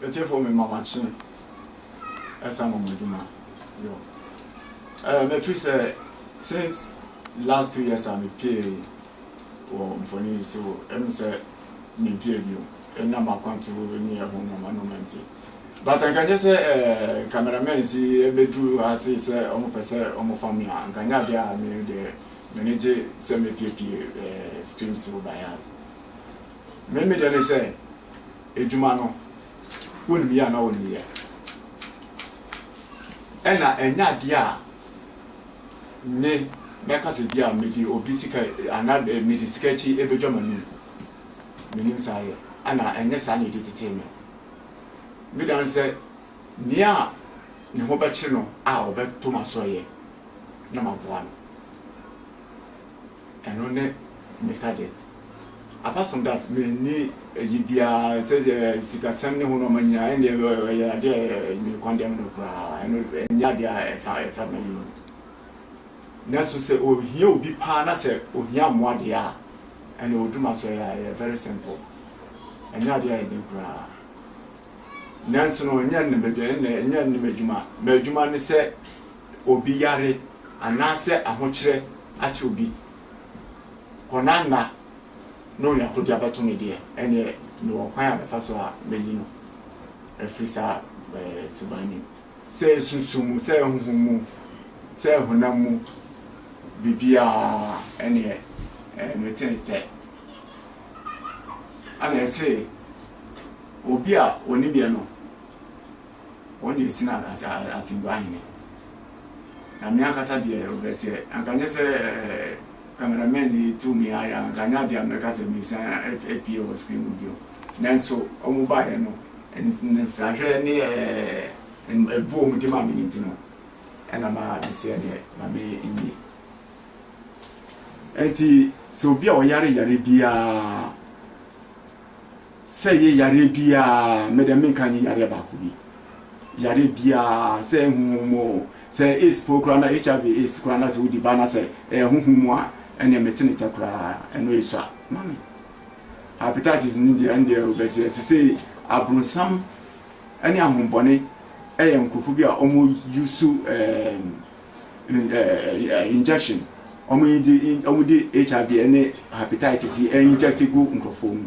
Metiefo me mama kye ɛsa mama adwuma yo ɛɛ mefiri sɛ since last two years a me pie. wɔ mfoni yi so ɛne sɛ mempia bio ɛnam akwantu ne ɛho nnoɔma nnoɔma nti but anka nyɛ sɛ eh, cameramans yi ɛbɛduru ha sei sɛ ɔmo pɛ sɛ ɔmo fa me a anka nyɛ adeɛ a me deɛ m'ani gye sɛ mepiepie eh, screen so by heart me me deɛ ne sɛ adwuma no wonim yɛ anaa wonim yɛ ɛna ɛnyɛ adeɛ a Nnɛ, mɛka sɛ bi a mede obi sika anaa mede sika akyi bɛdwa m'anom. Mennim saa yɛ, anaa ɛnyɛ saa na ɛdi tetee me. Me dane sɛ nea ne ho bɛkyere no a ɔbɛto m'asoɛeɛ na maboa no. Ɛno ne me target apart from that menni ayi biara sɛ sikasɛm ne ho na ɔma nyinaa ɛndeɛ ɛyɛ adeɛ a me condemn no koraa ɛno ɛnyɛ adeɛ a ɛfa ɛfa mayi ho nanso sɛ ohia obi paa na sɛ ohia mmoa deɛ a ɛna odu ma so ɛyɛ very simple ɛnyɛ adeɛ a ɛden koraa nanso no ɛnyɛ ne m'adwuma ɛnyɛ ne m'adwuma m'adwuma ne sɛ obi yare anaasɛ ahokyerɛ akyɛ obi kɔnanna na onya koro de abɛto me deɛ, ɛnneɛ mewɔ kwan a mɛfa so a mayi no afiri saa suban no mu, sɛ susu mu, sɛ honhom mu, sɛ honam mu, biribiara, ɛnneɛ mete ne tɛ. Ɛnna ɛse obi a ɔnim yɛ no. wɔn deɛ ɛsene asɛmdua hene. Na me ankasa deɛ ɔbɛseɛ, anka nyɛ sɛ camera man yi tu me ayɛ a, anka nyɛ adeɛ a mɛka sɛ mesan apue wɔ screen mu bio. Nanso wɔn baeɛ no, nsrahwɛ ne ɛboɔ a wɔn de maa me no nti no, ɛna ma meseɛ deɛ ma me nwie. Enti sɛ obi a ɔyare yare biara, Sɛ yɛ yareɛ biaa, me dɛ menka nyɛ yareɛ baako bi. Yareɛ biaa, sɛ ɛyɛ honhom mu oo, sɛ ɛyɛ AIDS po koraa na HIV AIDS koraa na sɛ wodi ba na sɛ ɛyɛ honhom mu a, ɛneɛ mete ne tɛ koraa, ɛno ɛsua ma me. Hepatitis no deɛ, ɛndeɛ wobɛseɛ. Sesei abronsam ɛne ahombɔne ɛyɛ nkorɔfoɔ bi a wɔn use ɛɛm. injection wɔn yi de wɔn de hiv ne hepatitis yi inject gu nkurɔfoɔ mu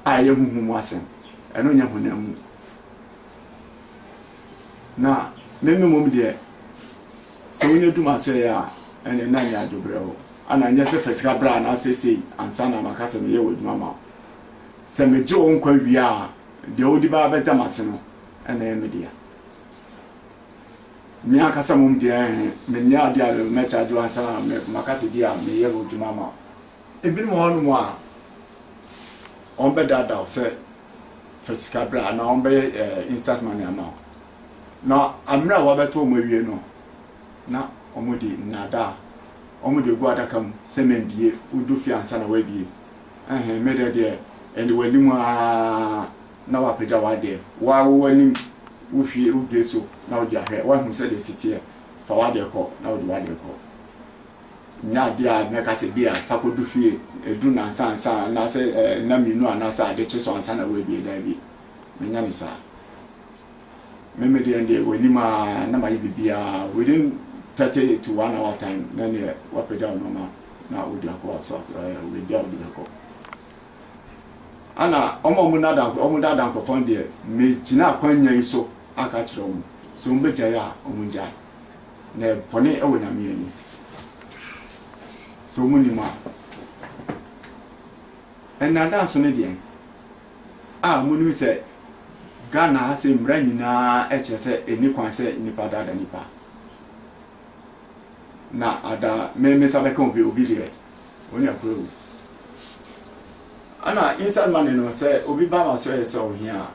a ɛyɛ huhu mu asɛm ɛno nyɛ honam mu na meme mmom deɛ sɛ wonya dum asɔeɛ a ɛne na nyɛ adwobrɛ hɔ ana nyɛ sɛ fa sika berɛ a anaasɛ sei ansa na maka sɛ meyɛ wɔ adwuma ma sɛ megye wo nkwa wie a deɛ wode baa bɛgya m'ase no ɛna ɛyɛ me dea Me ankasa mmom deɛ, mennyɛ adeɛ a mɛkyaagye wo ansa na maka sɛ bi a meyɛ hɔ adwuma ama wo. Ebinom wɔ hɔnom a, wɔbɛdaadaa wo sɛ fa sika bra anaa wɔbɛyɛ instant money ama wo. Na mmerɛ a wɔabɛtɔ wɔn awie no, na wɔde nnaadaa, wɔde agu adaka mu sɛ mambie, wodu fie ansa na woabie. Ɛhɛn, me dɛ deɛ, ɛnde w'anim aa. na woapagya w'adeɛ, wo ara wowɔ anim, wohwie wo bie so na wode ahwɛ, woahu sɛdeɛ ɛsi teɛ, fa w'adeɛ kɔ na wode w'adeɛ kɔ. Nyɛ adeɛ a mɛka sɛ ebia fa kɔdu fie, ɛduru nnansa ansa anaasɛ nna mmienu anaasɛ ade kye so ansa na woabie, daabi, menyɛ no saa. Me me deɛ deɛ w'anim a na mayɛ biribiara, within thirty to one hour time na neɛ woapagya wo nneɛma na wode akɔ w'aso, baabi a wode bɛkɔ. Ana wɔn a wɔn daadaa nkorɔ wɔn daadaa nkorɔfoɔ no deɛ me gyina akwannya yi so aka akyerɛ wɔn sɛ wɔn bɛ gyae a wɔn ngyae na ɛyɛ bɔne ɛwɔ nyame anim sɛ wɔn nim a ɛnaadaa nso ne deɛn a wɔn nim sɛ Ghana ha sɛ mmara nyinaa ɛkyerɛ sɛ ɛni kwan sɛ nipa daadaa nipa. na ada me me nsa bɛka obi obi deɛ wɔn nua kura wu ɛna inside money no sɛ obi ba ma sɛ ɔyɛ sɛ ɔhia a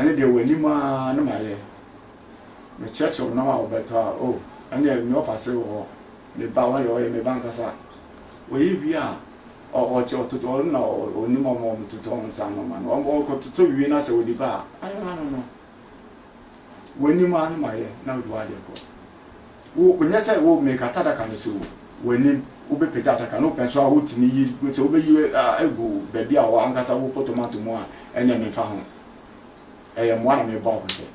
ɛne deɛ wɔn anim ara na ma yɛ mekyerɛkyerɛ wɔn nam a wɔbɛtɔ a o ɛne deɛ me ɔfa se wɔ hɔ me ba wɔn deɛ ɔyɛ me ba nkasa wɔyɛ wie a ɔkyɛ ɔtotɔ ɔno na ɔnim ɔmo ɔmo totɔ nsa no ma no ɔmo ɔkɔtotɔ wie na sɛ wɔde ba a ano ano no. w'anim ara no ma yɛ na wode w'ade nkɔ. Wo, nyɛ sɛ wo make ata adaka no si wo w'anim, wobɛpagya adaka no, wopɛ nso a wotumi yi, sɛ wobɛyi agu baabi a w'ankasa wopɔ tomato mu a, ɛneɛ memfa ho. Ɛyɛ mmoa na mebɔ akɔhyɛ.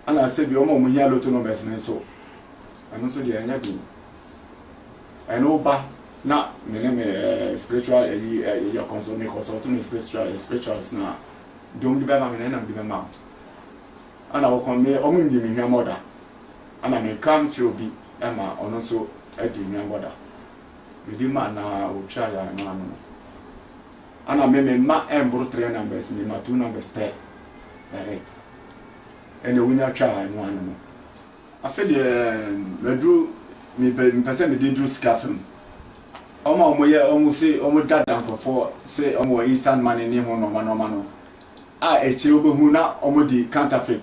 Ana sɛ bi wɔn a wɔhia loto numbers no nso, ɛno nso deɛ ɛnyɛ den. ɛne wo ba na me ne me eh, spiritual ɛyi eh, eh, yɛ consult me consult me spiritual eh, spirituals na dom de bɛma me na nam de bɛma wo ana wo kɔn me ɔmo nyi me hwɛ mɔda ana me nka nkyerɛ obi ɛma ɔno nso adi hwɛ mɔda me di ma na otwa ya na ano no ana me me ma ɛmboro three numbers me ma two numbers pɛ direct ɛna wonya twa ya no ano no Afei deɛ maduru mepɛ mepɛ sɛ mede duru sika fam. Wɔn a wɔyɛ wɔn se wɔn dada nkurɔfoɔ se wɔn wɔ instant money ne ho nnoɔma nnoɔma no a akyire wobɛhu na wɔn de counterfeit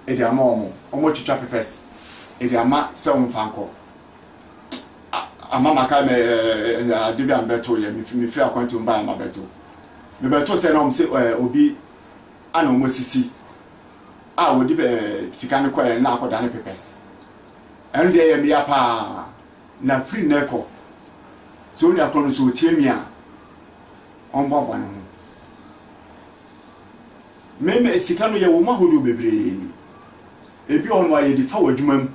de ama wɔn. Wɔn retwitwa pepɛs de ama sɛ wɔn mfa nkɔ. Ama maka mɛ ɛɛ ade bi a mebɛto yɛ mefiri akwanti wɔn baa ma bɛto. Mebɛto sɛ na wɔn se ɛɛ obi ana wɔn asisi. a wɔde bɛ sika no kɔɛ na akɔda ne pepɛs ɛno deɛ ɛyɛ meya paa na firi nnɛ kɔ sɛ onua korɔ no sɛ ɔtie me a ɔmboaboa ne ho meme sika no yɛ wɔ mu ahodoɔ bebree ebi ɔno a yɛde fa wɔ adwuma mu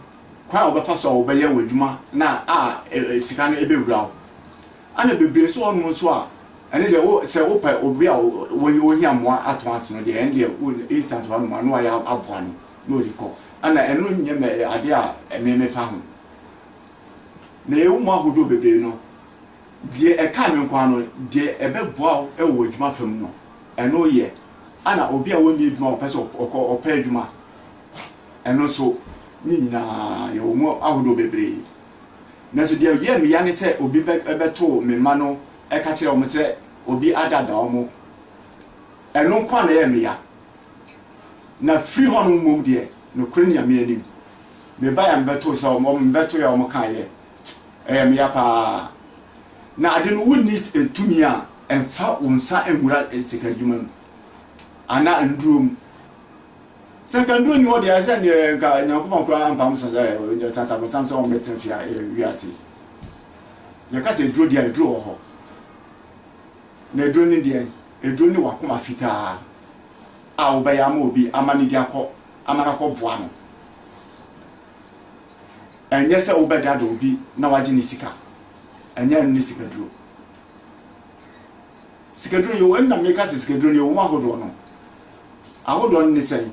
kwan a wɔbɛfa so a wɔbɛyɛ wɔ adwuma na a e, e, sika no ɛbɛwura wo Ana bebree nso wɔnom nso a ɛne deɛ wo sɛ wo pɛ obi a wo wo hia mmoa atɔn ase no deɛ ɛne deɛ wo instant wa nom a na wayɛ aboa no na ɔde kɔ ana ɛno nyɛ mɛ adeɛ a ɛme me fa ho na yɛ wo mu ahodoɔ bebree no deɛ ɛka me nko ano deɛ ɛbɛ boa wo ɛwɔ wɔ adwuma fam no ɛno yɛ ana obi a wɔnni adwuma wɔpɛ sɛ ɔkɔ ɔpɛ adwuma ɛno nso ne nyinaa yɛ wo mu ahodoɔ bebree. Nanso deɛ ɛyɛɛ me ya ne sɛ obi bɛtoo me mma no ka kyerɛɛ wɔn sɛ obi adaadaa wɔn. Ɛno nko ara na ɛyɛɛ me ya. Na firi hɔnom mmom deɛ, nokorɛ Nyame anim, mebaeɛ a mebɛtoo sɛ wɔn, mebɛtoeɛ a wɔkaeɛ. Ɛyɛɛ me ya pa ara. Na ade no, wonni tumi a ɛmfa wo nsa nwura sika adwuma mu anaa nnuro mu. Sɛ nka nnuro nni hɔ deɛ, ɛsɛ neɛ nka Nyankopɔn koraa ampam so sɛ ɔde sasa bonsam sɛ ɔmbɛtena fie a ɛyɛ wiase yi. Yɛka sɛ aduro deɛ a, aduro wɔ hɔ. Na aduro ne deɛ, aduro ne wakoma fitaa a wobɛyɛ ama obi ama ne de akɔ, ama no akɔ boa no. Ɛnyɛ sɛ wobɛdada obi na wagye ne sika. Ɛnyɛ ɛno ne sikaduro. Sikaduro yɛ wɔn na meka sɛ sikaduro no yɛ wɔn ahodoɔ no ahodoɔ no ne sɛn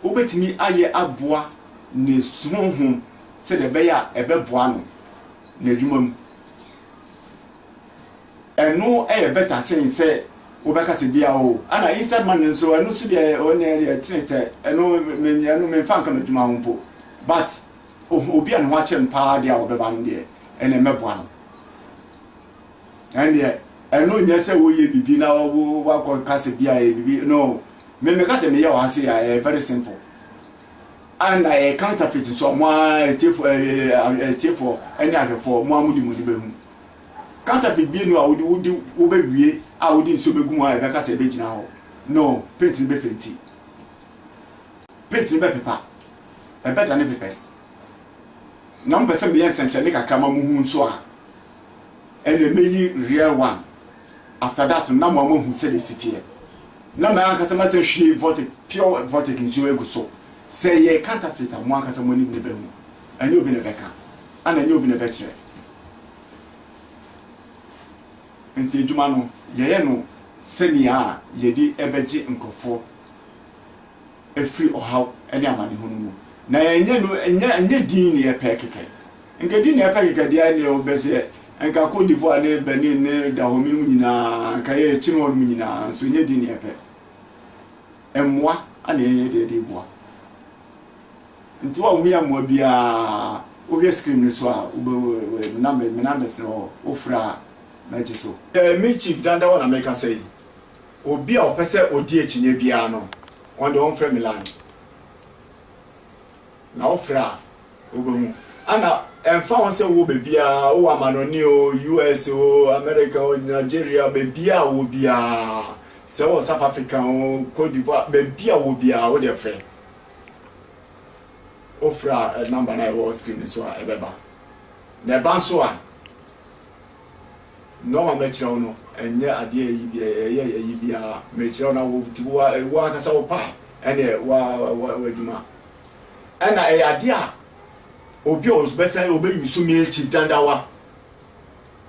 wobɛtumi ayɛ aboa ne honhom sɛdeɛ ɛbɛyɛ a ɛbɛboa no n'adwuma mu ɛno yɛ bɛta sen sɛ wobɛka sɛ bia o ana instant money nso ɛno nso deɛ ɔne deɛ tenetɛ ɛno ɛno memfa nka m'adwuma ho mpo but obi a ne ho akyɛ no paa deɛ a wɔbɛba no deɛ ɛna ɛmɛboa no ɛndeɛ ɛno nyɛ sɛ woyɛ bibi na wo wakɔ ka sɛ bi a ɛyɛ bibi no me meka sɛ meyɛ wɔ ha se a ɛyɛ very simple and ɛyɛ counterfeit nso a mo a ɛtiefo ɛtiefo ɛne ahwɛfoɔ mo a mo de mo ni bɛhu counterfeit bi no a wode wode wobɛwie a wode nsuo bɛgu mu a ɛbɛka sɛ ɛbɛgyina hɔ no paint no bɛfenti paint no bɛpepa ɛbɛda ne pepɛs na mo pɛ sɛ meyɛ nsɛnkyerɛnne kakra ma mo hu nso a ɛna meyi real one after that no na mo ama hu sɛdeɛ ɛsi teɛ na mɛ ankasa masa hwie vortic pure vortic nsuo agu so sɛ yɛ counterfeit a mo ankasa mo anim na ɛbɛhu ɛnyɛ obi na ɛbɛka ana ɛnyɛ obi na ɛbɛkyerɛ nti adwuma no yɛyɛ no sɛnea a yɛde ɛbɛgye nkurɔfoɔ afiri ɔhaw ne amanehunu mu. Na ɛnyɛ no, ɛnyɛ, ɛnyɛ din na yɛpɛ kɛkɛ. Nka din na yɛpɛ kɛkɛ deɛ ɛneɛ wobɛ sɛ, nka Cote d'Ivoire ne Benin ne Dahomey no mu nyinaa, nka yɛ kyini hɔ no mu nyinaa, nso ɛnyɛ din na yɛpɛ. Mmoa ana yɛyɛ deɛ de boa. Nti wa wohia mmoa biara, wohwɛ screen no so a, wobɛ, nam, me numbers no wɔ hɔ, wofrɛ a, mɛgye so. Me Chief Dandawa na mekasa yi. Obi a ɔpɛ sɛ odi akyinnye biara no, ɔno deɛ ɔmfrɛ me line. Na wofrɛ a, wobɛhu. Ɛna ɛmfa ho sɛ wowɔ baabiara, wowɔ amanɔne o, US o, America o, Nigeria, baabiara a wowɔ biara, sɛ wowɔ South Africa o, Cote d'Ivoire, baabi a wowɔ biara, wo deɛ frɛ. Wofrɛ a, ɛ number no a ɛwɔ screen no so a ɛbɛba. Na ɛba nso a. Nɔɔma a mɛkyerɛ wo no, ɛnyɛ adeɛ a ɛyi biara, ɛyɛ ɛyi biara. Mekyerɛ wo na wo nti wo ara, wo ankasa wo pɛ a, ɛnneɛ wo ara wo adwuma. Ɛnna ɛyɛ adeɛ a obi a ɔbɛsan ɔbɛyi wo so me akyi dadawa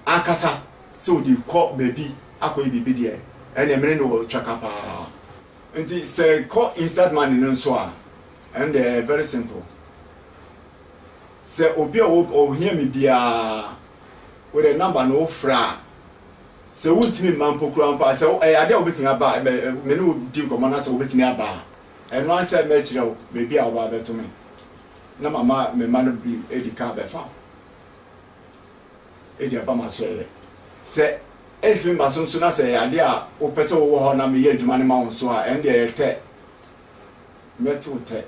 ankasa sɛ ɔde rekɔ baabi akɔyɛ biribi deɛ, ɛnneɛ me ne no wɔ twaka pa ara. Nti sɛ ɛkɔ instant money no nso a, ɛno deɛ ɛyɛ very simple. Sɛ obi a ɔhia me biara, Wode number no wo frɛ a sɛ wo ntimi mma mpo koraa mpo a sɛ ɛyɛ adeɛ a wobɛtumi aba a me ne wo di nkɔmmɔ na sɛ wobɛtumi aba a ɛno ara sɛ mɛkyerɛ wo baabi a wobaa bɛto me na mama me mma no bi adi kaa bɛfa wo ɛdi aba ma sɔeɛ sɛ ɛntumi mma so nso na sɛ ɛyɛ adeɛ a wopɛ sɛ wowɔ hɔ na meyɛ adwuma no ma wo nso a ɛno deɛ ɛyɛ tɛ mɛte wo tɛ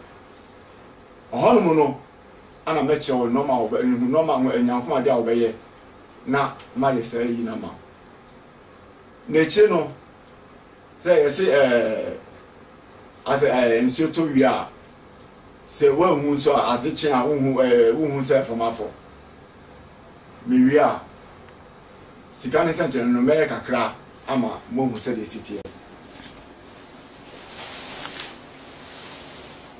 ɔhɔnom no ana mɛkyerɛ wo nnoɔma a wɔbɛ, nhu nnoɔma ho anyankomadeɛ a wɔbɛyɛ na mayɛ saa ayi no ama wo. Na akyire no, sɛ yɛse ɛɛ, asɛ ɛɛ nsuo tɔ wie a, sɛ woanhu nso a, ase kye a wohu ɛɛ wohu sɛ mframa fɔ. Mewie a, Sika ne sɛnkyerɛnne no, mɛyɛ kakra ama moahu sɛdeɛ ɛsi teɛ.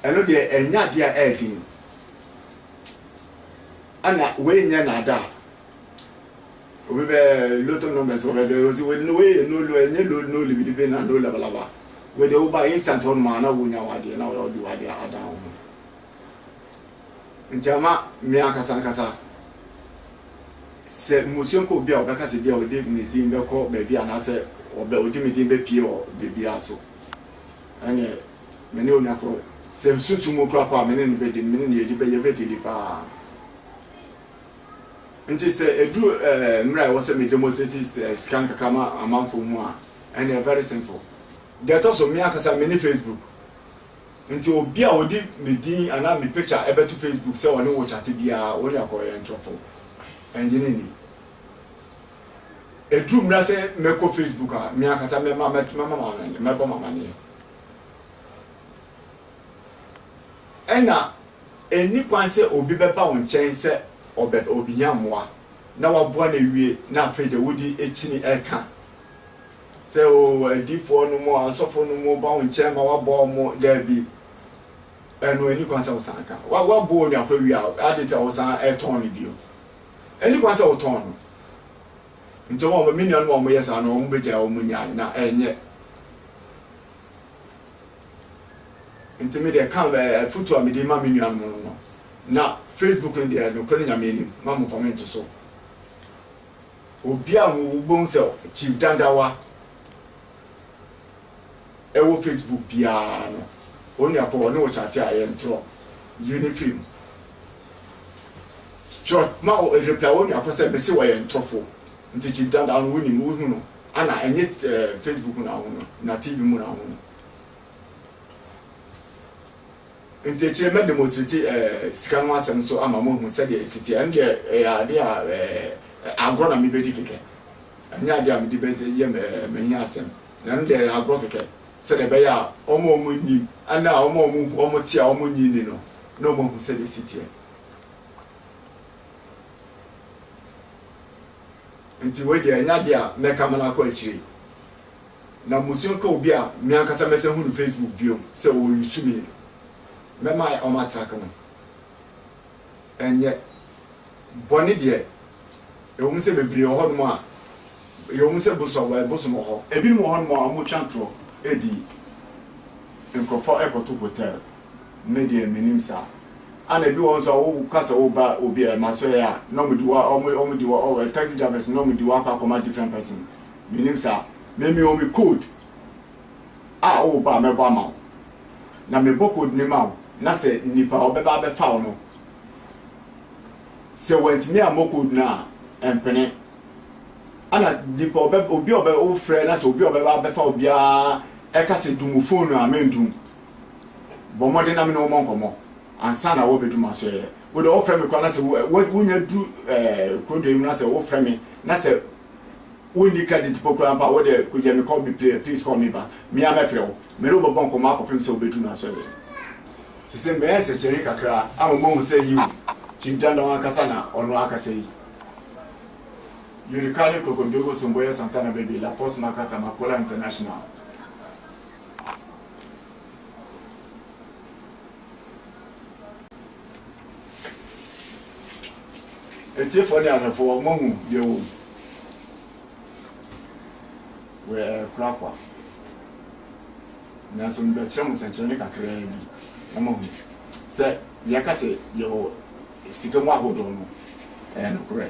Ɛno deɛ, ɛnyɛ adeɛ a ɛyɛ den. Ɛna wei nyɛ naadaa. Obi bɛ lotto numbers wɔ bɛsɛ osi wei no wei yɛ no lo ɛnyɛ lo no libidibe na no labalaba. Wei deɛ woba instant hɔ nom a na wonya w'adeɛ na wɔde w'adeɛ adan wo ho. Nti ama me ankasa ankasa sɛ mmusua kɔ obi a ɔbɛka sɛ bia ɔde ne din bɛkɔ baabi anaasɛ ɔbɛ ɔde me din bɛpie wɔ baabiara so ɛneɛ me ne onua korɔ sɛ nsusu mu kora paa me ne no bɛdi me ne no yɛdi bɛ yɛbɛdili paa nti sɛ ɛduru ɛɛ mmerɛ a ɛwɔ sɛ me demonstrate sika nkakra ma amanfoɔ mu a ɛneɛ very simple deɛ ɛtɔ so me ankasa me ne Facebook Nti obi a ɔde me din anaa me picture bɛto Facebook sɛ ɔne wo chat biara, wo ne ɔkɔ yɛ ntorɔfo. Ɛngye no nni. Ɛduru mmera sɛ mɛkɔ Facebook a, me ankasa mɛma mɛbɔ m'amaneɛ. Ɛna ɛnni kwan sɛ obi bɛba wo nkyɛn sɛ ɔbɛ ɔbɛhia mmoa na waboa no awie na afei de wode akyini ɛka sɛ oo adiyifoɔ no mo asɔfo no mo ba wo nkyɛn ma wabɔ wo mo daabi ɛno ɛni kwan sɛ wo san ka wa wa bɔ onua koro wia adi ta wo san ɛtɔn no bio ɛni kwan sɛ wo tɔn no nti wɔn wɔn mi nua no wɔn mo yɛ saa no wɔn bɛ gya wɔn mo nya na ɛnyɛ nti mi deɛ kan ɛɛ futu a mi de ma mi nua no no no na facebook no deɛ no koro ne nyame anim ma mo kɔmɛnti so. Obi a wobɛhu sɛ Chief Dandawa wɔ Facebook biara no, onua kɔ hɔ ne wo kyate a yɛntorɔ yie no firi mu. Twerɛ ma wo reply onua kɔ sɛ mese ɔyɛ ntorofo. Nti Chief Dandawa no wonim wohu no ana ɛnyɛ Facebook na wohu no na TV mu na wohu no. Enti akyire yi mɛ demonstrate sika ho asɛm nso ama mo ahu sɛdeɛ ɛsi teɛ. Ɛno deɛ ɛyɛ adeɛ a agorɔ na mebɛdi kɛkɛ. Ɛnyɛ adeɛ a mede bɛyɛ m'ahiasɛm. Na ɛno deɛ ɛyɛ agorɔ kɛkɛ sɛdeɛ ɛbɛyɛ a wɔn a wɔnnim ne a wɔn a wɔte a wɔnnye nni no na wɔahu sɛdeɛ ɛsi teɛ. Enti wei deɛ ɛnyɛ adeɛ a mɛka ma no akɔ akyire. na mmusua ka obi a me ankasa mɛsan hu no Facebook bio sɛ ɔresu me no, mɛma wɔatrake no. Ɛnyɛ bɔne deɛ, ɛwom sɛ bebree wɔ hɔnom a, ɛwom sɛ bosom wɔ hɔ. Ebinom wɔ hɔnom a wɔtwa atorɔ di nkurɔfoɔ kɔto hotel, me deɛ mennim saa. Ɛna ebi wɔ hɔ nso a woka sɛ woreba obi masoɛɛ a, na wɔde wo, taxi drivers no, na wɔde wo akɔ akɔma different person. Menim saa. Me mewɔ me code a wo ba a mɛbɔ ama wo. Na mebɔ code no ma wo na sɛ nipa a ɔbɛba abɛfa wo no sɛ wantumi ammɔ code no a ɛmpene. Ɛna nipa ɔbɛ obi a ɔbɛ wofrɛ na sɛ obi a ɔbɛba abɛfa wo biara ɛka sɛ dum phone no a mendum. Bɔ mmɔden na me ne wo mmɔ nkɔmmɔ ansa na wɔabɛdu m'asoɛeɛ. Wo deɛ wɔfrɛ me koraa na sɛ wo wonya duru ɛɛ kurodoɔ yi mu na sɛ wofrɛ me na sɛ wo nni credit mpo koraa mpo a, wo de kogya me call me pla please call me back, me ara mɛfrɛ wo, me ne wo bɛbɔ nkɔmmɔ akɔpem sɛ wobɛduru m'asɔreɛ. Sese mɛyɛ nsɛnkyerɛnne kakra ama moahu sɛ yiw, Chief Dandaw ankasa na ɔno akasa yi. Yorikale Krokondogo Somboya Santana Bebe La Poste Makata Makola International. Atiefoɔ ne ahwɛfoɔ, wɔahu deɛ wɔn werɛ rekora kwa. Nanso mebɛkyerɛ mo nsɛnkyerɛnne kakraa bi na moahu sɛ deɛ ɛka sɛ yɛwɔ sika mu ahodoɔ no, ɛyɛ nokorɛ.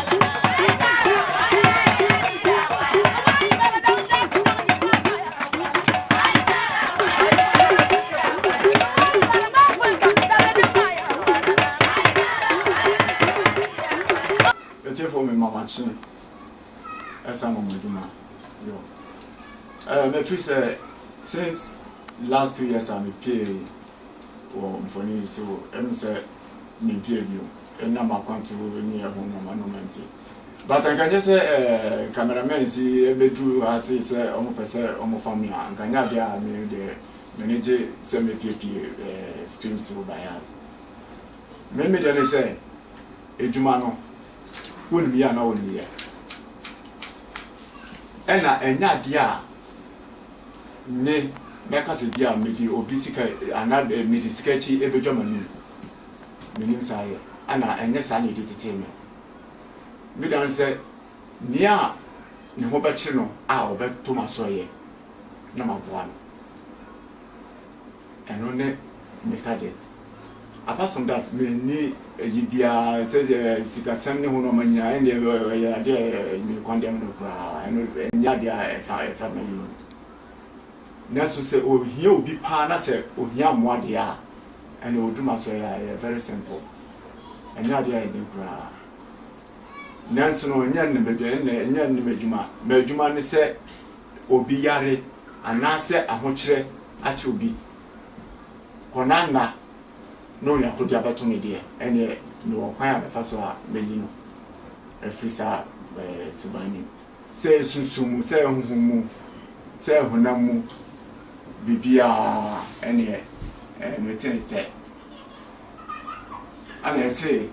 Metiefo me mama kye ɛsa mama adwuma yo ɛɛ mefiri sɛ since last two years a me pie. wɔ mfoni yi so ɛne sɛ mempia bio ɛnam akwantu ne ɛho nnoɔma nnoɔma nti but anka nyɛ sɛ eh, cameramans yi ɛbɛduru ha sei sɛ ɔmo pɛ sɛ ɔmo fa me a anka nyɛ adeɛ a me deɛ m'ani gye sɛ mepiepie eh, screen so by heart me me deɛ ne sɛ adwuma no wonim yɛ anaa wonim yɛ ɛna ɛnyɛ adeɛ a Nnɛ, mɛka sɛ bi a mede obi sika anaa mede sika akyi bɛdwa m'anom. Mennim saa yɛ, anaa ɛnyɛ saa na ɛdi tetee me. Me dane sɛ nea ne ho bɛkyere no a ɔbɛto m'asoɛeɛ na maboa no. Ɛno ne me target apart from that menni ayi biara sɛ sikasɛm ne ho na ɔma nyinaa ɛndeɛ ɛyɛ adeɛ a me condemn no koraa ɛno ɛnyɛ adeɛ a ɛfa ɛfa m'ayi ho nanso sɛ ohia obi paa na sɛ ohia mmoa deɛ a ɛnna odu ma so ɛyɛ very simple ɛnyɛ adeɛ a ɛden koraa nanso no ɛnyɛ ne m'adwuma ɛnyɛ ne m'adwuma m'adwuma ne sɛ obi yare anaasɛ ahokyerɛ akyɛ obi kɔ na nna na Onyako de abɛto me deɛ, ɛnneɛ mewɔ kwan a mɛfa so a mayi no afiri saa suban no mu. Sɛ susu mu, sɛ honhom mu, sɛ honam mu, biribiara, ɛnneɛ mete ntɛ. Ɛnna ɛse,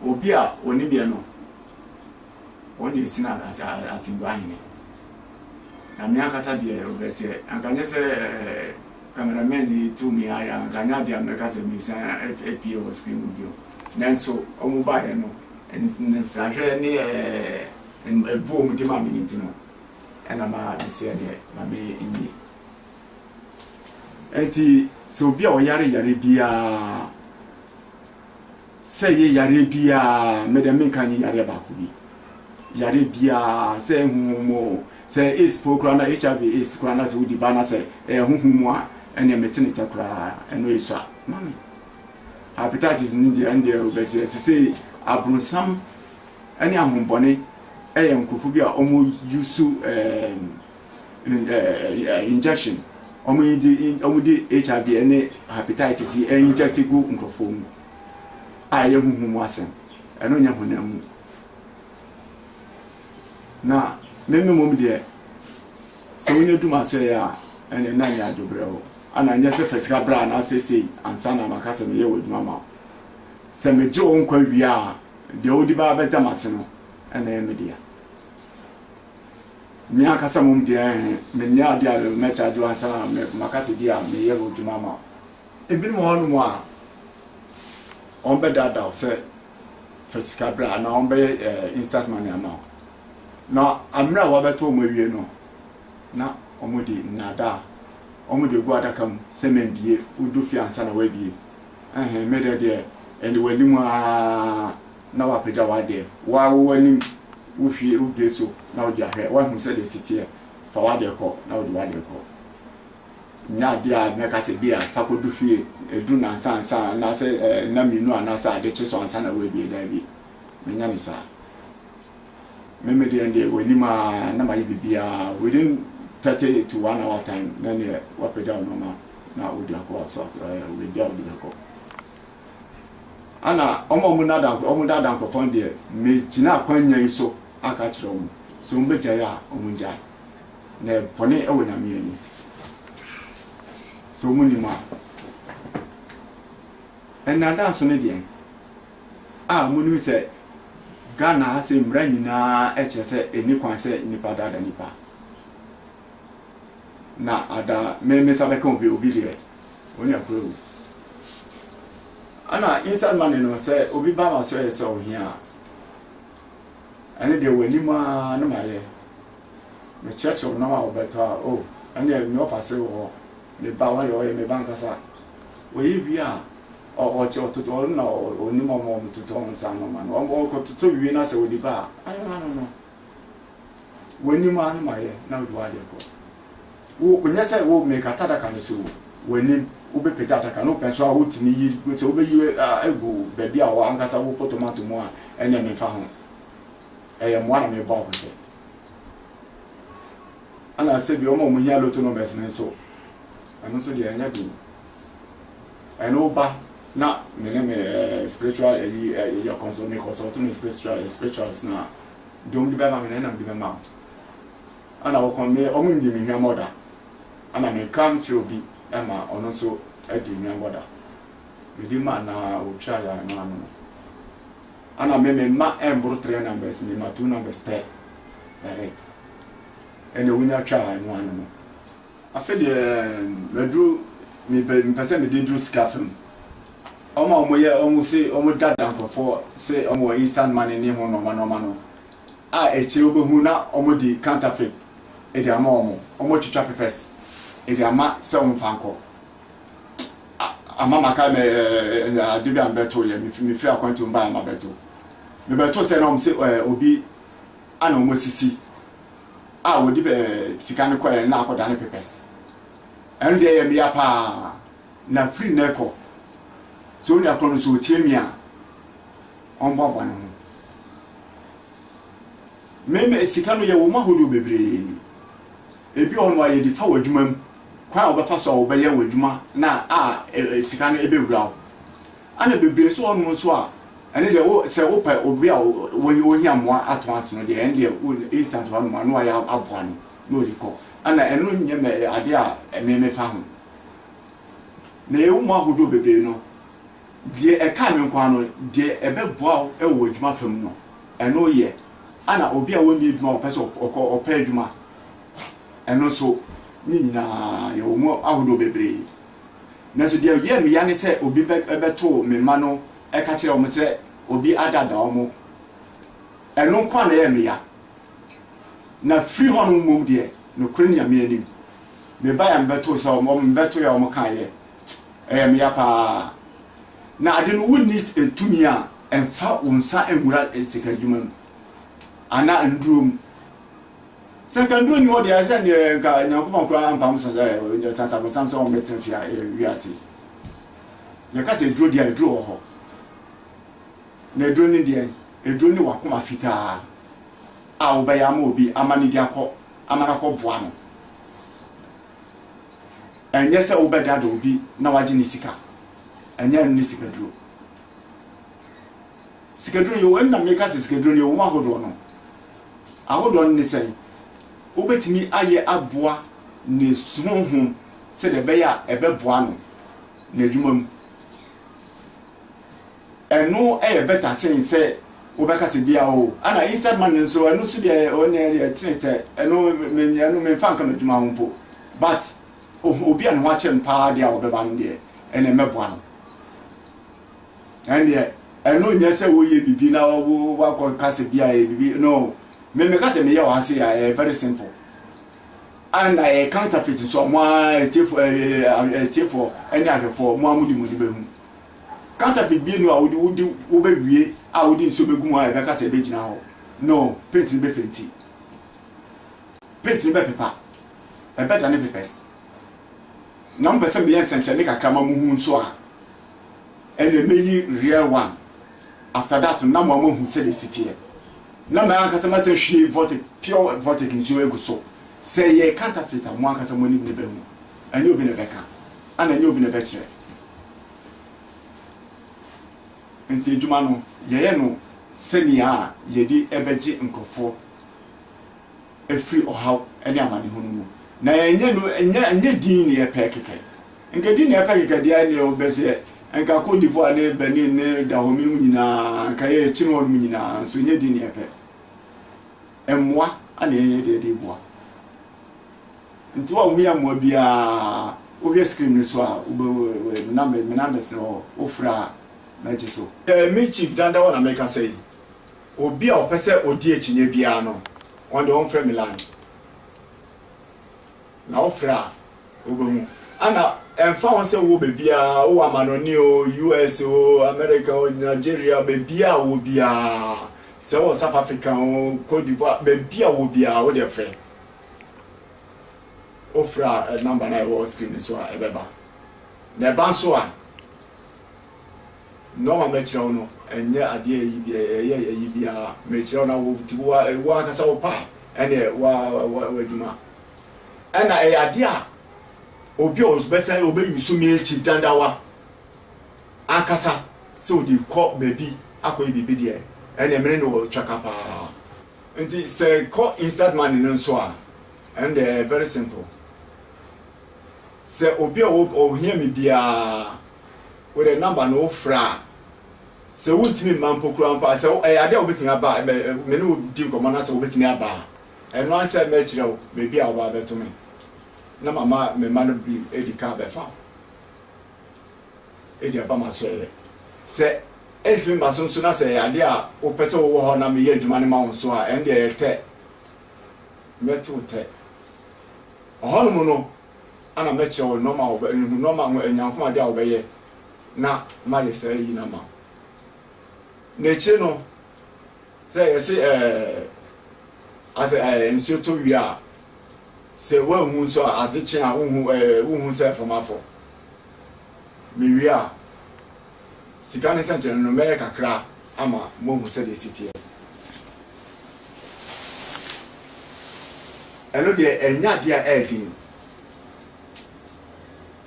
Obi a ɔnim yɛ no. wɔn deɛ ɛsene asɛmdua hene. Na me ankasa deɛ ɔbɛseɛ, anka nyɛ sɛ camera man yi tu me ayɛ a, anka nyɛ adeɛ a mɛka sɛ mesan apue wɔ screen mu bio. Nanso wɔn baeɛ no, nsrahwɛ ne ɛboɔ a wɔn de maa me no nti no, ɛna ma meseɛ deɛ ma me nwie. Enti sɛ obi a ɔyare yare biara, Sɛ yɛ yareɛ biaa, me dɛ menka nyɛ yareɛ baako bi. Yareɛ biaa, sɛ ɛyɛ honhom mu oo, sɛ ɛyɛ AIDS po koraa na HIV AIDS koraa na sɛ wodi ba na sɛ ɛyɛ honhom mu a, ɛneɛ mete ne tɛ koraa, ɛno ɛsua ma me. Hepatitis no deɛ, ɛndeɛ wobɛseɛ. Sesei abronsam ɛne ahombɔne ɛyɛ nkorɔfoɔ bi a wɔn use ɛɛm. injection wɔn yi de wɔn de hiv ne hepatitis yi inject gu nkurɔfoɔ mu a ɛyɛ huhu mu asɛm ɛno nyɛ honam mu na meme mmom deɛ sɛ wonya dum asɔeɛ a ɛne na nyɛ adwobrɛ hɔ ana nyɛ sɛ fa sika berɛ a anaasɛ sei ansa na maka sɛ meyɛ wɔ adwuma ma sɛ megye wo nkwa wie a deɛ wode baa bɛgya m'ase no ɛna ɛyɛ me dea Me ankasa mmom deɛ, menyɛ adeɛ a mɛkyaagye wo ansa na maka sɛ bi a meyɛ hɔ adwuma ama wo. Ebinom wɔ hɔnom a, wɔbɛdaadaa wo sɛ fa sika bra anaa wɔbɛyɛ eh, instant money ama wo. Na mmerɛ a wɔabɛto wɔn awie no, na wɔde nnaadaa, wɔde agu adaka mu sɛ mambie, wodu fie ansa na woabie. Ɛhɛn, me dɛ deɛ, ɛde w'anim aa. na woapagya w'adeɛ, wo ara wowɔ anim, wohwie wo gate so na wode ahwɛ, woahu sɛdeɛ ɛsi teɛ, fa w'adeɛ kɔ na wode w'adeɛ kɔ. Nyɛ adeɛ a mɛka sɛ bi a fa kɔdu fie, ɛduru nansa ansa anaasɛ nna mmienu anaasɛ ade kye so ansa na woabie, daabi, menyɛ no saa. Me me deɛ deɛ w'anim a na mayɛ biribiara, within thirty to one hour time na neɛ woapagya wo nneɛma na wode akɔ, so ase, baabi a wode bɛkɔ. Ana wɔn a wɔn daadaa nkorɔ wɔn daadaa nkorɔfoɔ no deɛ me gyina akwannya yi so aka akyerɛ wɔn sɛ wɔn bɛ gyae a wɔn ngyae na ɛyɛ bɔne ɛwɔ nyame anim sɛ wɔn nim a ɛnaadaa nso ne deɛn a wɔn nim sɛ Ghana ha sɛ mmara nyinaa ɛkyerɛ sɛ ɛni kwan sɛ nipa daadaa nipa. na ada me me nsa bɛka obi obi deɛ onya kura wu ɛna inside money no sɛ obi ba ma sɛ sɛ ohia a ɛne deɛ w'anim a na ma yɛ mekyerɛkyerɛ wo nam a wobɛtɔ a o ɛne me ɔfa se wɔ me ba wɔyɛ ɔyɛ me ba nkasa wɔyɛ wie a ɔkyɛ ɔtotɔ ɔno na ɔnim ɔmo ɔmo totɔ nsa no ma no ɔmo ɔkɔtotɔ wie na sɛ wɔde ba a ano ano no w'anim ara no ma yɛ na wode w'adeɛ kɔ wo onyɛ sɛ wo mekata adaka no si wo w'anim wobɛpagya adaka no wopɛ nso a wotumi yi sɛ wobɛyi agu baabi a wɔ ankasa wopɔ tomato mu a ɛneɛ memfa ho ɛyɛ mmoa na mebɔ akɔhyɛ ana sɛ bi ɔma ɔmo hia loto numbers no nso ɛno nso deɛ ɛnyɛ den ɛne wo ba na me ne me eh, spiritual ɛyi eh, eh, yɛ consult me consult me spiritual eh, spirituals na dom de bɛma me na nam de bɛma wo ana wo kɔn me ɔmo nyi me hwɛ mɔda ana me nka nkyerɛ obi ɛma ɔno nso adi hwɛ mɔda me di ma na otwa ya na ano no ana me me ma ɛmboro three numbers me ma two numbers pɛ direct ɛna wonya twa ya no ano no Afei deɛ maduru mepɛ mepɛ sɛ mede duru sika fam. Wɔn a wɔyɛ wɔn se wɔn dada nkurɔfoɔ se wɔn wɔ instant money ne ho nnoɔma nnoɔma no a akyire wobɛhu na wɔn de counterfeit de ama wɔn. Wɔn retwitwa pepɛs de ama sɛ wɔn mfa nkɔ. Ama maka mɛ ɛɛ ade bi a mebɛto yɛ mefiri akwanti wɔn baa ma bɛto. Mebɛto sɛ na wɔn se ɛɛ obi ana wɔn asisi. a wɔde bɛ sika no kɔɛ na akɔda ne pepɛs ɛno deɛ ɛyɛ meya paa na firi nnɛ kɔ sɛ onua korɔ no sɛ ɔtie me a ɔmboaboa ne ho meme sika no yɛ wɔn ahodoɔ bebree ebi ɔno a yɛde fa wɔ adwuma mu kwan a wɔbɛfa so a wɔbɛyɛ wɔ adwuma na a e, e, sika no ɛbɛwura wo Ana bebree nso wɔnom nso a ɛne deɛ wo sɛ wo pɛ obi a wo wo hia mmoa atɔn ase no deɛ ɛne deɛ wo instant wa nom a na wayɛ aboa no na ɔde kɔ ana ɛno nyɛ mɛ adeɛ a ɛme me fa ho na ɛwɔ mu ahodoɔ bebree no deɛ ɛka me nko ano deɛ ɛbɛ boa wo ɛwɔ wɔ adwuma fam no ɛno yɛ ana obi a wɔnni adwuma wɔpɛ sɛ ɔkɔ ɔpɛ adwuma ɛno nso ne nyinaa yɛwɔ mu ahodoɔ bebree. Nanso deɛ ɛyɛɛ me ya ne sɛ obi bɛtoo me mma no ka kyerɛɛ wɔn sɛ obi adaadaa wɔn. Ɛno nko ara na ɛyɛɛ me ya. Na firi hɔnom mmom deɛ, nokorɛ Nyame anim, mebaeɛ a mebɛtoo sɛ wɔn, mebɛtoeɛ a wɔkaeɛ. Ɛyɛɛ me ya pa ara. Na ade no, wonni tumi a ɛmfa wo nsa nwura sika adwuma mu anaa nnuro mu. Sɛ nka nnuro nni hɔ deɛ, ɛsɛ neɛ nka Nyankopɔn koraa ampam so sɛ ɔde sasa bonsam sɛ ɔmmɛtena fie a ɛyɛ wiase yi. Yɛka sɛ aduro deɛ a, aduro wɔ hɔ. Na aduro ne deɛ, aduro ne w'akoma fitaa a wobɛyɛ ama obi ama no de akɔ, ama no akɔ boa no. Ɛnyɛ sɛ wobɛdada obi na wagye ne sika. Ɛnyɛ ɛno ne sikaduro. Sikaduro yɛ wɔn na meka sɛ sikaduro no yɛ wɔn ahodoɔ no ahodoɔ no ne sɛn wobɛtumi ayɛ aboa ne honhom sɛdeɛ ɛbɛyɛ a ɛbɛboa no n'adwuma mu ɛno yɛ bɛta sen sɛ wobɛka sɛ bia o ana instant money nso ɛno nso deɛ ɔne deɛ tenetɛ ɛno ɛno memfa nka m'adwuma ho mpo but obi a ne ho akyɛ no paa deɛ a wɔbɛba no deɛ ɛna ɛmɛboa no ɛndeɛ ɛno nyɛ sɛ woyɛ bibi na wo wakɔ ka sɛ bi a ɛyɛ bibi no me meka sɛ meyɛ wɔ ha se a ɛyɛ very simple and ɛyɛ counterfeit nso a mo a ɛtiefo ɛtiefo ɛne ahwɛfoɔ mo a mo de mo ni bɛhu counterfeit bi no a wode wode wobɛwie a wode nsuo bɛgu mu a ɛbɛka sɛ ɛbɛgyina hɔ no paint no bɛfenti paint no bɛpepa ɛbɛda ne pepɛs na mo pɛ sɛ meyɛ nsɛnkyerɛnne kakra ma mo hu nso a ɛna meyi real one after that no na mo ama hu sɛdeɛ ɛsi teɛ na mɛ ankasa masɛ hwie vortic pure vortic nsuo agu so sɛ yɛ counterfeit a mo ankasa mo anim na ɛbɛhu ɛnyɛ obi na ɛbɛka ana ɛnyɛ obi na ɛbɛkyerɛ nti adwuma no yɛyɛ no sɛnea a yɛde ɛbɛgye nkurɔfoɔ afiri ɔhaw ne amanehunu mu. Na ɛnyɛ no, ɛnyɛ, ɛnyɛ din na yɛpɛ kɛkɛ. Nka din na yɛpɛ kɛkɛ deɛ ɛneɛ wobɛ sɛ, nka Cote d'Ivoire ne Benin ne Dahomey no mu nyinaa, nka yɛ kyini hɔ no mu nyinaa, nso ɛnyɛ din na yɛpɛ. Mmoa ana yɛyɛ deɛ de boa. Nti wa wohia mmoa biara, wohwɛ screen no so a, wobɛ, nam, me nam bɛsene hɔ, wofrɛ a, mɛgye so. Me Chief Dandawa na mekasa yi. Obi a ɔpɛ sɛ odi akyinnye biara no, ɔno deɛ ɔmfrɛ me line. Na wofrɛ a, wobɛhu. Ɛna ɛmfa ho sɛ wowɔ baabiara, wowɔ amanɔne o, US o, America o, Nigeria, baabiara a wowɔ biara, sɛ wowɔ South Africa o, Cote d'Ivoire, baabi a wowɔ biara, wo deɛ frɛ. Wofrɛ a, ɛ number no a ɛwɔ screen no so a ɛbɛba. Na ɛba nso a. Nɔɔma a mɛkyerɛ wo no, ɛnyɛ adeɛ a ɛyi biara, ɛyɛ ɛyi biara. Mekyerɛ wo na wo nti wo ara, wo ankasa wo pɛ a, ɛnneɛ wo ara wo adwuma. Ɛnna ɛyɛ adeɛ a obi a ɔbɛsan ɔbɛyi wo so me akyi dadawa ankasa sɛ ɔde rekɔ baabi akɔyɛ biribi deɛ, ɛnneɛ me ne no wɔ twaka pa ara. Nti sɛ ɛkɔ instant money no nso a, ɛno deɛ ɛyɛ very simple. Sɛ obi a ɔhia me biara, Wode number no wo frɛ a sɛ wo ntumi mma mpo koraa mpo a sɛ ɛyɛ adeɛ a wobɛtumi aba a me ne wo di nkɔmmɔ na sɛ wobɛtumi aba a ɛno ara sɛ mɛkyerɛ wo baabi a wobaa bɛto me na mama me mma no bi adi ka bɛfa wo ɛdi aba ma sɔeɛ sɛ ɛntumi mma so nso na sɛ ɛyɛ adeɛ a wopɛ sɛ wowɔ hɔ na meyɛ adwuma no ma wo nso a ɛno deɛ ɛyɛ tɛ mɛte wo tɛ ɔhɔnom no ana mɛkyerɛ wo nnoɔma a wɔbɛ, nhu nnoɔma ho anyankomadeɛ a wɔbɛyɛ na mayɛ saa ayi no ama wo. Na akyire no, sɛ yɛse ɛɛ, asɛ ɛɛ nsuo tɔ wie a, sɛ woanhu nso a, ase kye a, wohu ɛɛ, wohu sɛ mframa fɔ. Mewie a, Sika ne sɛnkyerɛnne no, mɛyɛ kakra ama moahu sɛdeɛ ɛsi teɛ. Ɛno deɛ, ɛnyɛ adeɛ a ɛyɛ den.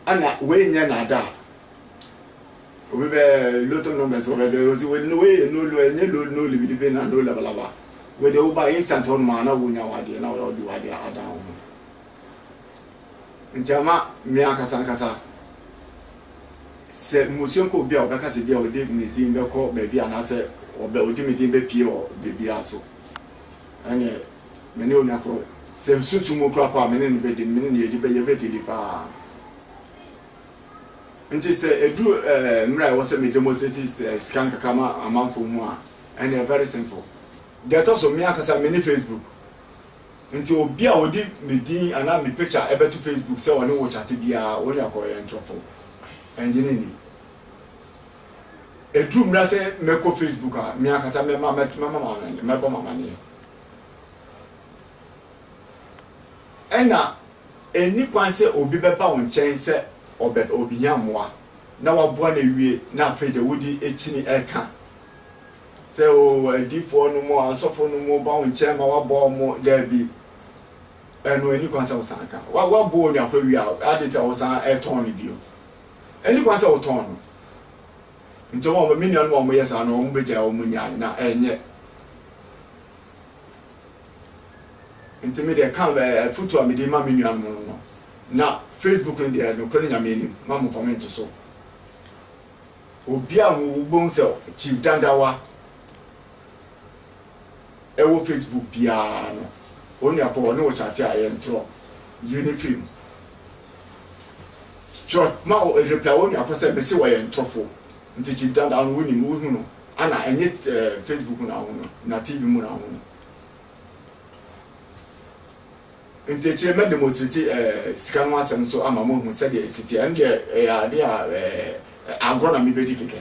Ɛna wei nyɛ naadaa. Obi bɛ lotto numbers wɔ bɛsɛ osi wei no wei yɛ no lo ɛnyɛ lo no libidibe na no labalaba. Wei deɛ woba instant hɔ nom a na wonya w'adeɛ na wɔde w'adeɛ adan wo ho. Nti ama me ankasa ankasa sɛ mmusua kɔ obi a ɔbɛka sɛ bia ɔde ne din bɛkɔ baabi anaasɛ ɔbɛ ɔde me din bɛpie wɔ baabiara so ɛneɛ me ne onua korɔ sɛ nsusu mu kora paa me ne no bɛdi me ne no yɛdi bɛ yɛbɛdili paa nti sɛ ɛduru ɛɛ mmerɛ a ɛwɔ sɛ me demonstrate sika nkakra ma amanfoɔ mu a ɛneɛ very simple deɛ ɛtɔ so me ankasa me ne Facebook Nti obi a ɔde me din anaa me picture bɛto Facebook sɛ ɔne wo chat biara, wo ne ɔkɔ yɛ ntorɔfo. Ɛngye no nni. Ɛduru mmera sɛ mɛkɔ Facebook a, me ankasa mɛma mɛbɔ m'amaneɛ. Ɛna ɛnni kwan sɛ obi bɛba wo nkyɛn sɛ ɔbɛ ɔbɛhia mmoa na waboa no awie na afei de wode akyini ɛka sɛ oo adiyifoɔ no mo asɔfo no mo ba wo nkyɛn ma wabɔ wo mo daabi ɛno ɛni kwan sɛ wo san ka wa wa bɔ onua koro wia adi ta wo san ɛtɔn no bio ɛni kwan sɛ wo tɔn no nti wɔn wɔn mi nua no wɔn mo yɛ saa no wɔn bɛ gya wɔn mo nya na ɛnyɛ nti mi deɛ kan ɛɛ eh, futu a mi de ma mi nua no no no na facebook no deɛ no koro ne nyame anim ma mo kɔmɛnto so. Obi a wobɛhu sɛ Chief Dandawa wɔ Facebook biara no, onua kɔ hɔ ne wo kyate a yɛntorɔ yie no firi mu. Twerɛ ma wo reply onua kɔ sɛ mese ɔyɛ ntorofo. Nti Chief Dandawa no wonim wohu no ana ɛnyɛ Facebook na wohu no na TV mu na wohu no. Enti akyire yi mɛ demonstrate sika ho asɛm nso ama mo ahu sɛdeɛ ɛsi teɛ. Ɛno deɛ ɛyɛ adeɛ a agorɔ na mebɛdi kɛkɛ.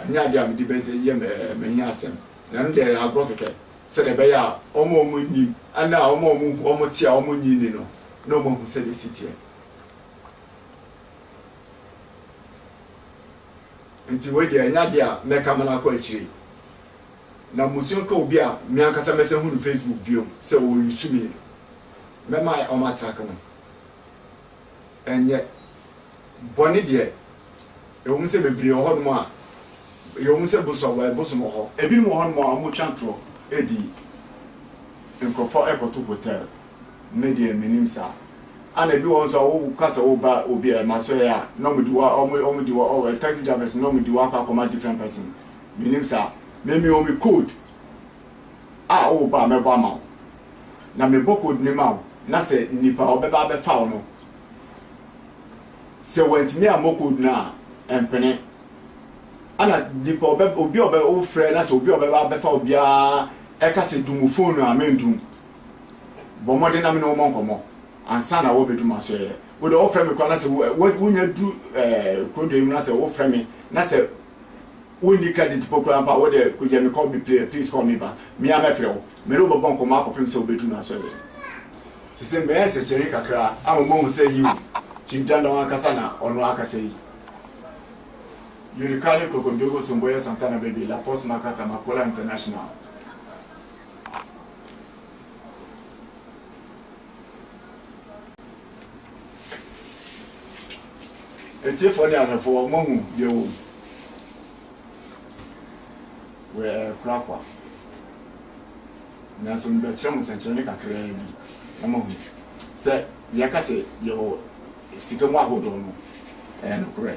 Ɛnyɛ adeɛ a mede bɛyɛ m'ahiasɛm. Na ɛno deɛ ɛyɛ agorɔ kɛkɛ sɛdeɛ ɛbɛyɛ a wɔn a wɔnnim ne a wɔn a wɔte a wɔnnye nni no na wɔahu sɛdeɛ ɛsi teɛ. Enti wei deɛ ɛnyɛ adeɛ a mɛka ma no akɔ akyire. na mmusua ka obi a me ankasa mɛsan hu no Facebook bio sɛ ɔresu me no, mɛma wɔatrake no. Ɛnyɛ bɔne deɛ, ɛwom sɛ bebree wɔ hɔnom a, ɛwom sɛ bosom wɔ hɔ. Ebinom wɔ hɔnom a wɔtwa atorɔ di nkurɔfoɔ kɔto hotel, me deɛ mennim saa. Ɛna ebi wɔ hɔ nso a woka sɛ woreba obi masoɛɛ a, na wɔde wo, taxi drivers no, na wɔde wo akɔ akɔma different person. Menim saa. Me mewɔ me code a wo ba a mɛbɔ ama wo. Na mebɔ code no ma wo na sɛ nipa a ɔbɛba abɛfa wo no sɛ wantumi ammɔ code no a ɛmpene. Ɛna nipa ɔbɛ obi a ɔbɛ wofrɛ na sɛ obi a ɔbɛba abɛfa wo biara ɛka sɛ dum phone no a mendum. Bɔ mmɔden na me ne wo mmɔ nkɔmmɔ ansa na wɔabɛdu m'asoɛeɛ. Wo deɛ wɔfrɛ me koraa na sɛ wo wonya duru ɛɛ kurodoɔ yi mu na sɛ wofrɛ me na sɛ wo nni credit mpo koraa mpo a, wo de kogya me call me pla please call me back, me ara mɛfrɛ wo, me ne wo bɛbɔ nkɔmmɔ akɔpem sɛ wobɛduru m'asɔreɛ. Sese mɛyɛ nsɛnkyerɛnne kakra ama moahu sɛ yiw, Chief Dandaw ankasa na ɔno akasa yi. Yorikale Krokondogo Somboya Santana Bebe La Poste Makata Makola International. Atiefoɔ ne ahwɛfoɔ, moahu deɛ ɛwɔ mu? Wei ɛyɛ korakora, nanso mebɛkyerɛ mo sɛnkyerɛnne kakraa bi na moahu sɛ deɛ ɛka sɛ yɛwɔ sika mu ahodoɔ no ɛyɛ nokorɛ.